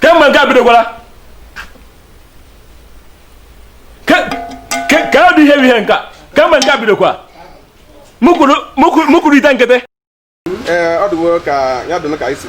kemgbe nke a bidokwara ka ọ dị ihe bụ ihe nke a kemgbe nke a bidokwa mụkwuru ite nkịtị ee ọ dịwo ka ya dịnụ ka anyị si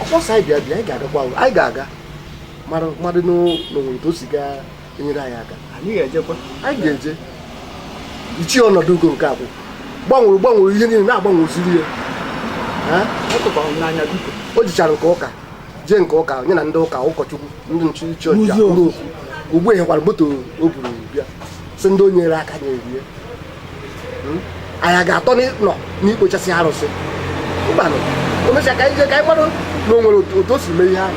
ọ kpọsa anyị bịa bịa anyị ga-agakwa ahụ anyị ga-aga mara mmadụ na o nwere otu o si ga-enyere anyị aka anyị ga-ejekwa anyị ga-eje ichi ọnọdụ ugo nke abụọ gbanwere gbanwere ihe niile na-agbanweziri ya Ha? ọ tụkwara m n'anya biko o jichara nke ụka jee nke ụka nye na ndị ụka ụkọchukwu ndị iche iche ọchịchị N'ụzọ. akpụrụ okwu ugbu a nyekwara moto o buru bịa sị ndị o nyere aka na-erie hmm? anyị ga-atọ nọ n'ikpochasị arụsị mbanụ o mechaa ka anyị jee ka anyị mmadụ na o nwere otu o si mee ihe ahụ